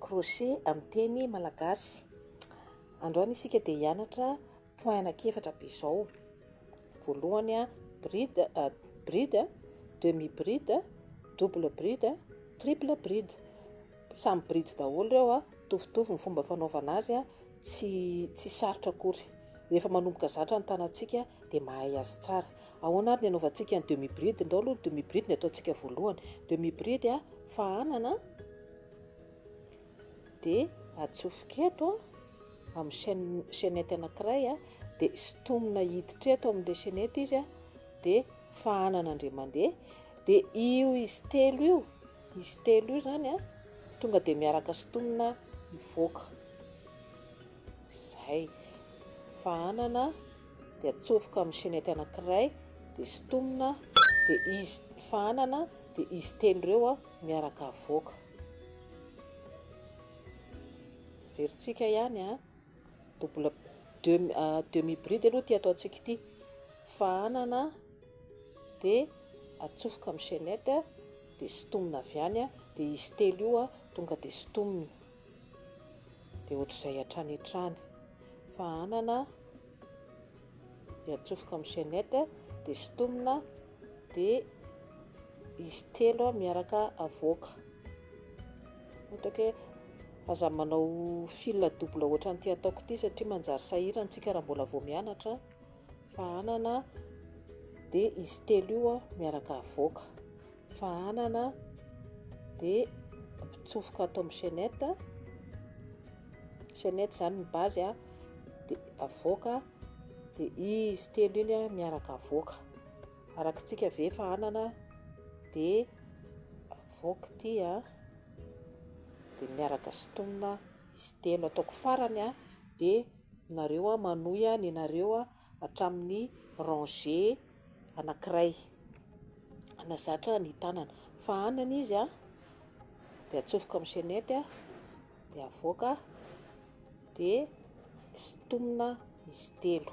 Crochet amin'ny teny malagasy. Androany isika dia hianatra point anankiefatra be izao. Voalohany a bride, bride, demi bride, double bride, triple bride. Samy bride daholo ireo a, mitovitovy ny fomba fanaovana azy a. Tsy tsy sarotra akory. Rehefa manomboka zatra ny tanantsika dia mahay azy tsara. Ahoana ary ny anaovantsika ny demi bride? Ndao aloha ny demi bride ny ataontsika voalohany. Demi bride a, fahanana dia atsofoka eto a, amin'ny chaine chainette anankiray a, dia sintomina hiditra eto amin'ilay chainette izy a, dia fahanana indray mandeha, dia io izy telo io Izy telo io izany an, tonga dia miaraka sintomina mivoaka. Izay. Fa hanana dia atsofoka amin'ny chainette anankiray dia sintomina dia izy, fa hanana dia izy telo ireo an miaraka avoaka. Averintsika ihany an, double demi bride aloha ity ataontsika ity. Fa hanana. dia atsofoka amin'ny chainette dia sintomina avy any dia izy telo io tonga dia sintomina dia ohatr'izay hatrany hatrany fa hanana dia atsofoka amin'ny chainette dia sintomina dia izy telo miaraka avoaka ohatra ke aza manao fil double ohatran'ity ataoko ity satria manjary sahirana isika raha mbola vao mianatra fahanana dia izy telo io miaraka avoaka fahanana dia mpitsofoka ato amin'ny chaînette chaînette izany ny base a dia avoaka dia izy telo iny a miaraka avoaka arakitsika ve fahanana dia avoaka ity a dia miaraka sitomina izy telo ataoko farany a dia Nareo a manohy a nenareo a hatramin'ny rangé anakiray na zatra ny tanana fa any any izy a de atsofoka amin'ny chainette a de avoaka de sintomina izy telo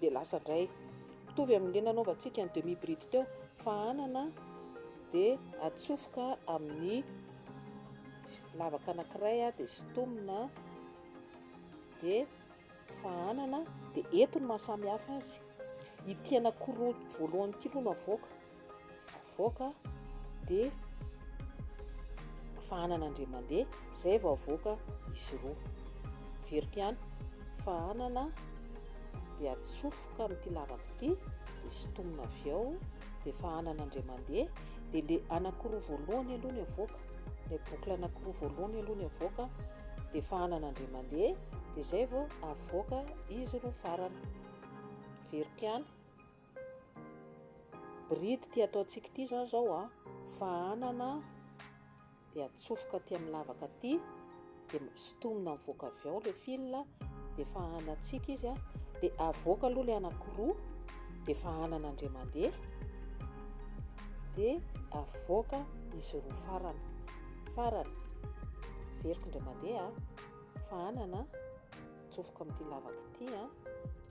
dia lasa indray mitovy amin'ilay nanaovantsika ny demi bride teo fa anana dia atsofoka amin'ny lavaka anankiray dia sintomina dia fa anana dia eto ny mahasamihafa azy ity anankiroa voalohany ity aloha no avoaka Avoaka dia fahanana indray mandeha izay vao avoaka izy roa. Averiko ihany, fahanana dia atsofoka amin'ity lavaka ity dia sintomina avy ao dia fahanana indray mandeha dia ilay anankiroa voalohany aloha ny avoaka, ilay boucle anankiroa voalohany aloha ny avoaka dia fahanana indray mandeha dia izay vao avoaka izy roa farany. Averiko ihany. Bride ty ataontsika ity zany zao a, fahanana de atsofoka aty amin'ny lavaka aty de sintomina mivoaka avy ao le fil de fahanantsika izy a de avoaka aloha le anakiroa de fahanana ndray mandeha de avoaka izy roa farany farany veriko ndray mandeha fahanana Atsofoka amin'ity lavaka ity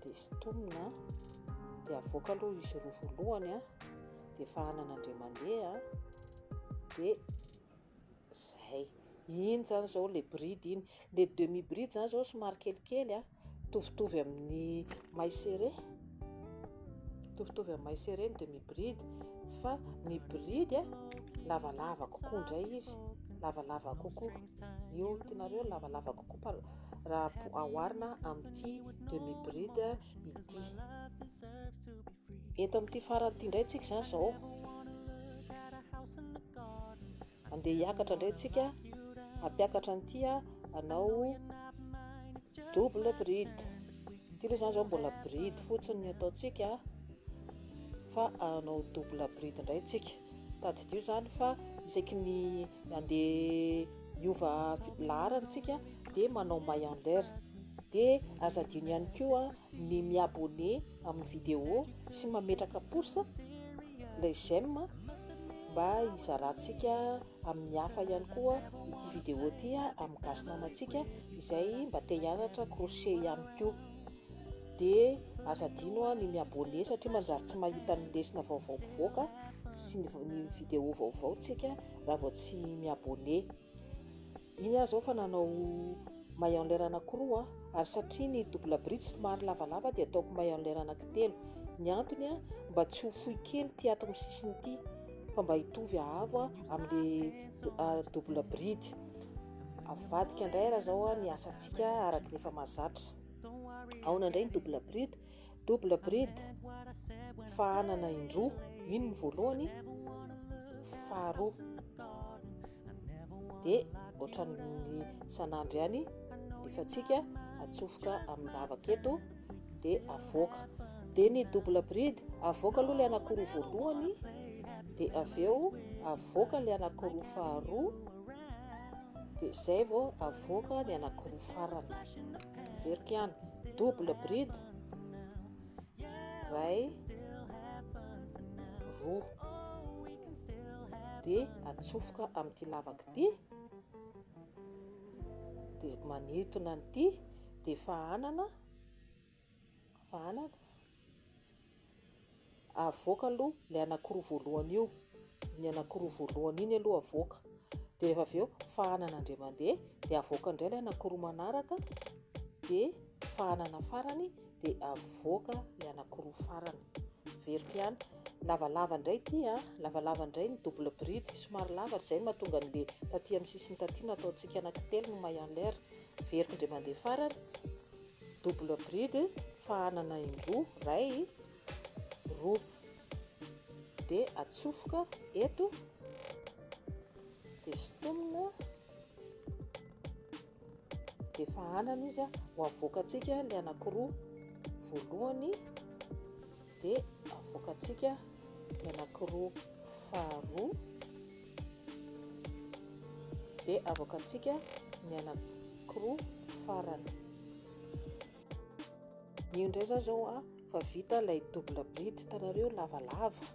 dia sintomina dia avoaka aloha izy roa voalohany dia efa hanana ndray mandeha dia zay iny zany zao le bride iny le demi bride zany zao somary kelikely a tovitovy amin'ny may serré tovitovy amin'ny may serré ny demi bride fa ny bride lavalava kokoa ndray izy lavalava kokoa Ny olontinareo lavalava kokoa raha aoharina amin'ity demi bride ity. Eto amin'ity farany ity indray tsika izany izao. Andeha hiakatra indray tsika hampiakatra an'ity anao double bride. Ity aloha izany izao mbola bride fotsiny ny ataontsika fa anao double bride indray tsika. Tadidio izany fa isaky ny handeha hiova laharana isika dia manao Maiander. Dia aza adino ihany koa ny mi abonner amin'ny vidéo sy mametraka pouce, ilay j'aime, mba hizarantsika amin'ny hafa ihany koa ity vidéo ity amin'ny gasy namantsika izay mba te hianatra crochet ihany koa. de aza adino an ny mi abonner satria manjary tsy mahita ny lesona vaovao mpivoaka sy ny ny video vaovao tsika raha vao tsy mi abonner iny aho zao fa nanao maillon lair anaky roa ary satria ny double bridge somary lavalava de ataoko maillon lair anaky telo ny antony an mba tsy ho fohy kely ity ato amin'ny sisiny ity fa mba hitovy ahavo amin'le double bridge avadika indray ary zao ny asantsika araky ny efa mahazatra Aona indray ny double bride? Double bride, fahanana indroa. Iny ny voalohany, faharoa. Dia ohatran'ny sanandro ihany, rehefatsika atsofoka amin'ny lavaka eto, dia avoaka. Dia ny double bride, avoaka aloha ilay anakiroa voalohany, dia avy eo avoaka ilay anakiroa faharoa, Dia izay vao avoaka ny anankiroa farany. Averiko ihany, double bride, iray, roa. Dia atsofoka amin'ity lavaka ity, dia manintona an'ity, dia efa hanana. Vahana ko. Avoaka aloha ilay anakiroa voalohany io. Iny anakiroa voalohany iny aloha avoaka. Dia rehefa avy eo fahana nandre mandeha dia avoaka indray ilay anakiroa manaraka dia fahanana farany dia avoaka ilay anakiroa farany. Veriko ihany. Lavalava indray ity a. Ah. Lavalava indray ny double bride. Somary lava izay mahatonga an'ilay taty amin'ny sisiny taty na ataontsika anankitelo no maillon l'air. Veriko indray mandeha farany. Double bride fa hanana indroa, ray, roa. Dia atsofoka eto, dia sintomina, dia efa hanana izy, ho avoakantsika ilay anankiroa voalohany. dia avoakantsika ny anankiroa faharoa dia avoakantsika ny anankiroa farany io indray zao zao a fa vita ilay double bride hitanareo lavalava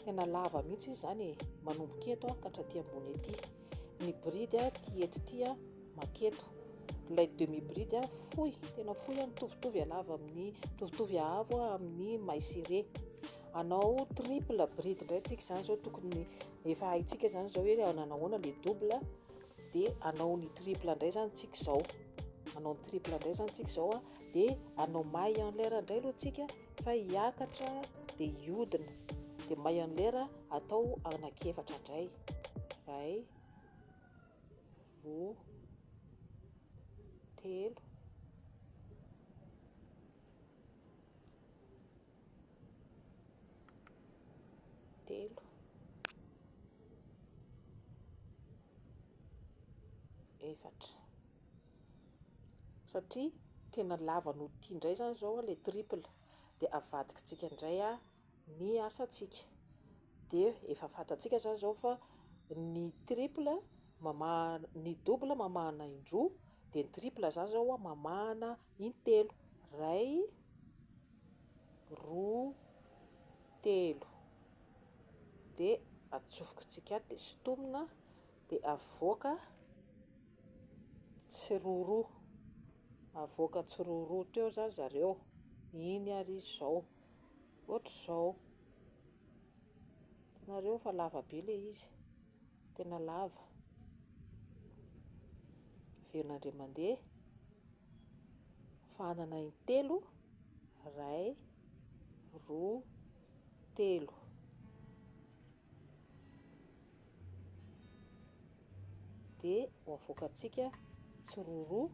tena lava mihitsy izy zany e manomboka eto a ka hatraty ambony ety ny bride a ty eto ty a Maka eto. Ilay demi bride a, fohy, tena fohy a, mitovitovy halava amin'ny, mitovitovy haavo a amin'ny may sy re. Anao triple bride indray tsika izany izao tokony efa haintsika izany izao hoe nanahoana le double dia anao ny triple indray izany tsika izao. Anao ny triple indray izany tsika izao a, dia anao may en l'air indray aloha tsika fa hiakatra dia hiodina. Dia may en l'air atao anankiefatra indray. Iray. roa, telo, telo, efatra. Satria tena lava noho ity indray izany izao ilay triple dia avadikintsika indray. ny asantsika dia efa fantatsika zany zao fa ny triple mamaha ny double mamahana indroa dia ny triple zany zao a mamahana intelo, iray, roa, telo, de atsofokintsika ato dia sintomina dia avoaka tsiroaroa, avoaka tsiroaroa teo zany zareo, iny ary izao. Ohatr'izao, hitanareo fa lava be ilay izy, tena lava, averina indray mandeha, fahanana in-telo, iray, roa, telo. de ho avoakantsika tsiroroa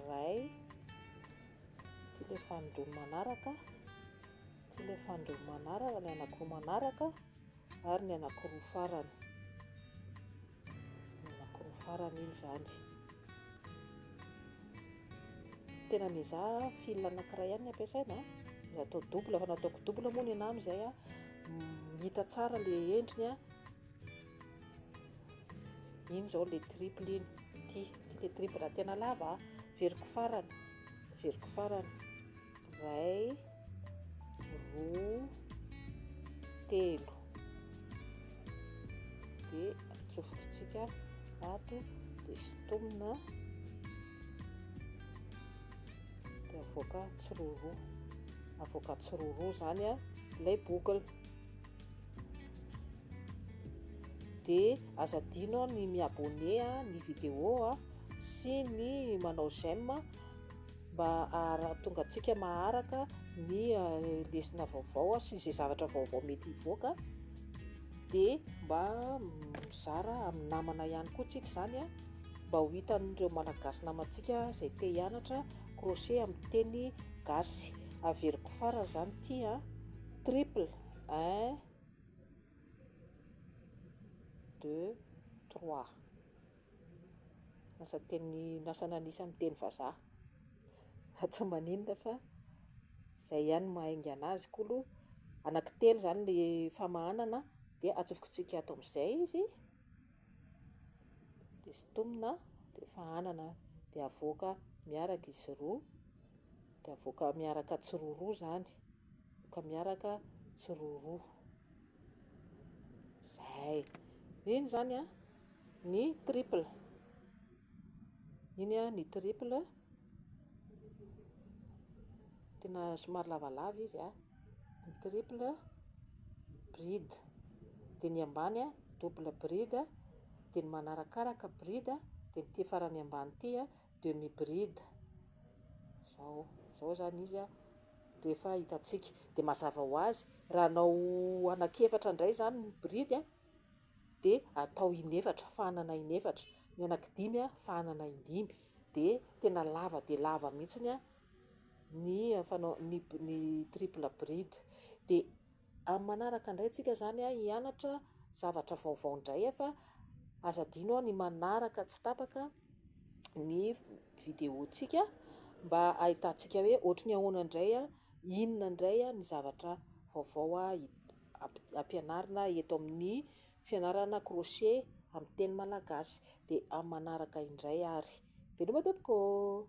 ray ity le fanindroany manaraka ity le fanindroany manaraka ny anakiroa manaraka ary ny anakiroa farany ny anakiroa farany iny izany. Tena miezaha fil anakiray ihany ny ampiasaina, za atao double, fa na ataoko double moa ny anah amin'izay a, hita tsara le endriny a, iny izao le triple iny, ity, ity le triple, raha tena lava a, averiko farany, averiko farany. Iray, roa, telo. Dia atsofokintsika ato dia sintomina dia avoaka tsiroro avoaka tsiroro izany a ilay boucle dia aza adino ny mi-abonné ny vidéo sy ny manao j'aime mba hahatonga antsika maharaka ny lesona vaovao sy izay zavatra vaovao mety hivoaka dia mba mizara amin'ny namana ihany koa tsika izany a mba ho hitan'ireo malagasy namantsika izay te hianatra crochet amin'ny teny gasy averiko farany izany ity a triple un deux trois Lasa teny, lasa nanisa amin'ny teny vazaha. Fa tsy maninona fa izay ihany no maha haingana azy. Koa aloha anankitelo izany ilay famahanana dia atsofokontsika ato amin'izay izy, dia sintomina, dia fahanana, dia avoaka miaraka izy roa, dia avoaka miaraka tsiroaroa izany, avoaka miaraka tsiroaroa. Izay. Mino izany an? Ny triple. Iny a ny triple tena somary lavalava izy a. Ny triple bride. Dia ny ambany a double bride. Dia ny manarakaraka bride. Dia ity farany ambany ity a demi bride. Izao, izao izany izy a dia efa hitantsika. Dia mazava ho azy raha anao anaky efatra indray izany ny bride a. dia atao inefatra, fahanana inefatra, ny anaky dimy fahanana indimy, dia tena lava dia lava mihitsiny ny fanao ny ny triple bride, dia amin'ny manaraka indray tsika izany hianatra zavatra vaovao indray fa aza adino ny manaraka tsy tapaka ny video tsika mba hahitantsika hoe ohatry ny ahoana indray, inona indray ny zavatra vaovao. ampianarina eto amin'ny fianarana crochet amin'ny teny malagasy dia amin'ny manaraka indray ary. Veloma tompoko ô!